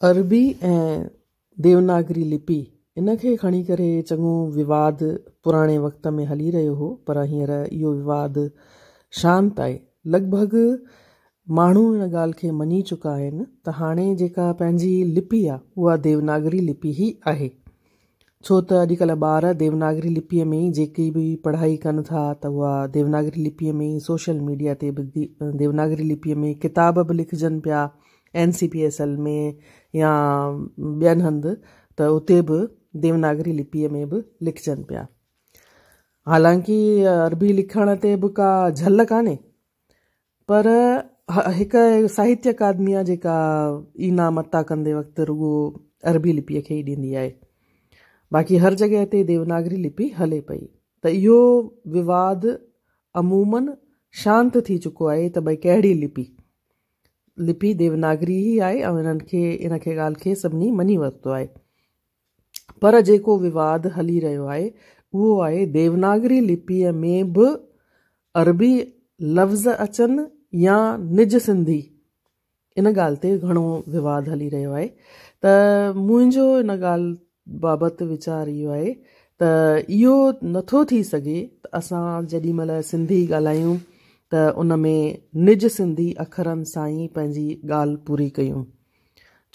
عربي ۽ ديوناگري لپي ان کي کڻي ڪري چڱو وواد پراڻي وقت ۾ هلي رهيو هو پر هينئر اهو وواد شانت آهي. لڳ ڀڳ ماڻهو ان ڳالهه کي مڃي چڪا آهن ته هاڻي جيڪا پنهنجي لپي آهي اها ديوناگري لپي ئي آهي. ڇو ته اڄڪلهه ٻار ديوناگري لپيء ۾ ئي جيڪي به پڙهائي ڪن ٿا ته اها ديوناگري لپيء ۾ ئي سوشل ميڊيا تي به ديوناگري لپيء ۾ ڪتاب به لکجن پيا N C P S L ۾ يا ٻين هنڌ ته اتي به ديوناگري لپيء ۾ به لکجن پيا حالانڪه عربي لکڻ تي به ڪا جهل ڪانهي پر هڪ ساهتيه اڪادميا جيڪا ئي نام عطا ڪندي وقت رڳو عربي لپيء کي ئي ڏيندي آهي، باقي هر جڳهه تي ديوناگري لپي هلي پئي ته اهو وواد عموماً شانت ٿي چڪو آهي ته ڀئي ڪهڙي لپي؟ لپي ديوناگري ئي آهي ۽ ان کي ان کي ڳالهه کي سڀني مڃي ورتو آهي. پر جيڪو وواد هلي رهيو آهي اهو آهي ديوناگري لپيء ۾ به عربي لفظ اچن يا نج سنڌي ان ڳالهه تي گهڻو وواد هلي رهيو آهي ته منهنجو ان ڳالهه بابت ويچار اهو آهي ته اهو نٿو ٿي سگهي ته اسان جيڏي مهل سنڌي ڳالهايون ته ان ۾ نج سنڌي اکرن سان ئي پنهنجي ڳالهه پوري ڪيون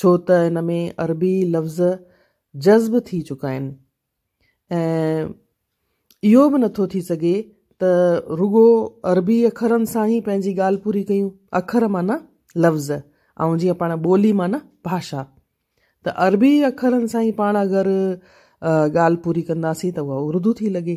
ڇو ته ان ۾ عربي لفظ جذب ٿي چڪا آهن ۽ اهو به نٿو ٿي سگهي ته رڳو عربي اکرن سان ئي پنهنجي ڳالهه پوري ڪيون اکر معنيٰ لفظ ۽ جيئن پاڻ ٻولي معنيٰ ڀاشا ته عربي اکرن سان ئي پاڻ اگر ڳالهه پوري ڪنداسين ته اها اردو ٿي لڳي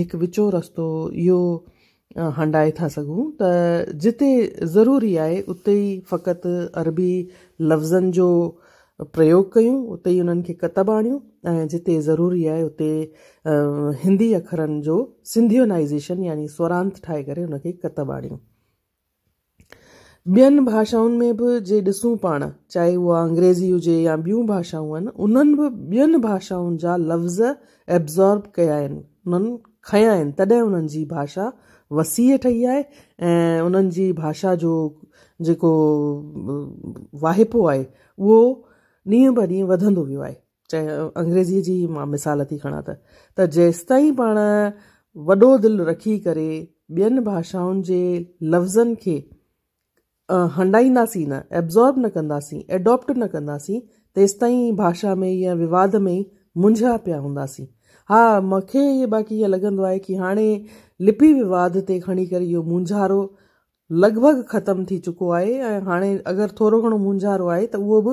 هڪ وچو رستو اهو هنڊائي ٿا سگهون ته جتي ضروري آهي اتي ئي فقط عربي لفظن جو پريوگ ڪيون، اتي ئي انهن کي ڪتب آڻيون ۽ جتي ضروري آهي اتي هندي اکرن جو سنڌيونائيزيشن يعني سورانت ٺاهي ڪري ان کي ڪتب آڻيون. ٻين ڀاشائن ۾ به جي ڏسون پاڻ، چاهي اها انگريزي هجي يا ٻيون ڀاشائون آهن، انهن به ٻين ڀاشائن جا لفظ ابزارب ڪيا آهن، انهن کنيا آهن، تڏهن انهن جي ڀاشا وسيع ٺهي آهي ۽ انهن جي ڀاشا جو جيڪو واهپو آهي، اهو ڏينهن به ڏينهن وڌندو ويو آهي. چاهي انگريزيء جي ئي مان مثال ٿي کڻان ته ته جيستائين پاڻ وڏو دل رکي ڪري ٻين ڀاشائن جي لفظن کي هنڊائينداسين نه، Absorb نه ڪنداسين، Adopt نه ڪنداسين تيستائين ڀاشا ۾ ئي ۽ وواد ۾ ئي منجهيا پيا هونداسين. ها مون کي باقي ائين لڳندو آهي ڪي هاڻي لپي وواد تي کڻي ڪري اهو مونجهارو لڳ ڀڳ ختم ٿي چڪو آهي ۽ هاڻي اگر ٿورو گهڻو مونجهارو آهي ته اهو به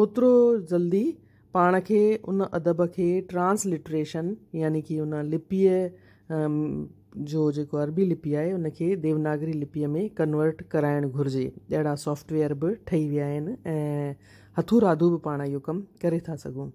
اوترو جلدي پاڻ کي ان ادب کي ٽرانس لٽريشن يعني ڪي ان لپيء جو جيڪو عربي لپي آهي ان کي ديوناگري لپيء ۾ ڪنورٽ ڪرائڻ گهرجي. اهڙا سافٽ ويئر به ٺهي ويا آهن ۽ هٿون راڌو به پاڻ اهو ڪم ڪري ٿا سگهون.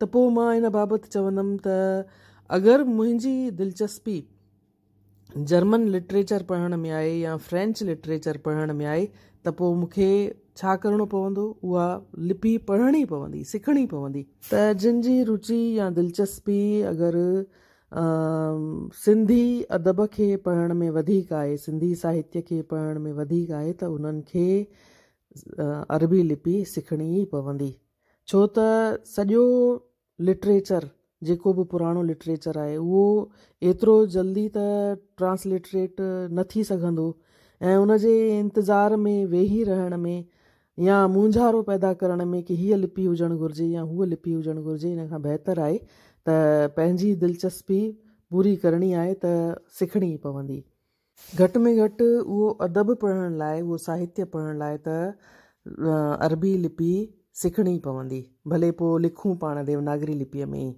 ته پوء مان ان بابت چوندم ته اگر منهنجي دلچسپي جرمن لٽريچر پڙهڻ ۾ آهي يا فرينچ لٽريچر پڙهڻ ۾ آهي ته پوء مون کي ڇا ڪرڻو پوندو؟ اها لپي پڙهڻي پوندي، سکڻي پوندي. ته جن جي روچي يا دلچسپي اگر سنڌي ادب کي پڙهڻ ۾ وڌيڪ آهي، سنڌي ساهتيه کي پڙهڻ ۾ وڌيڪ آهي ته انهن کي عربي لپي سکڻي ئي پوندي. ڇو ته سڄو لٽريچر جيڪو به پراڻو لٽريچر آهي اهو ايترو جلدي ته ٽرانسلٽريٽ نه ٿي سگهندو ۽ ان جي انتظار ۾ ويهي رهڻ ۾ يا مونجهارو پيدا ڪرڻ ۾ ڪي هيء لپي هجڻ گهرجي يا هوء لپي هجڻ گهرجي ان کان بهتر آهي ته پنهنجي دلچسپي پوري ڪرڻي آهي ته سکڻي ئي پوندي گهٽ ۾ گهٽ اهو ادب پڙهڻ لاء، اهو ساهتيه پڙهڻ لاء ته عربي لپي سکڻي پوندي. ڀلي پوء لکون پاڻ ديوناگري لپيء ۾ ئي.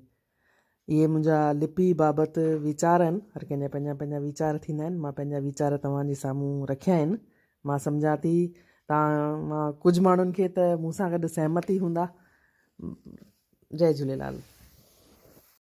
اهي منهنجا لپي بابت ويچار آهن. هر ڪنهن جا پنهنجا پنهنجا ويچار ٿيندا آهن. مان پنهنجا ويچار توهان جي سامهون رکيا آهن. مان سمجهان ٿي توهان مان ڪجهه ماڻهن کي ته مون سان گڏ سهمت ئي هوندا. جئي جهوليلال.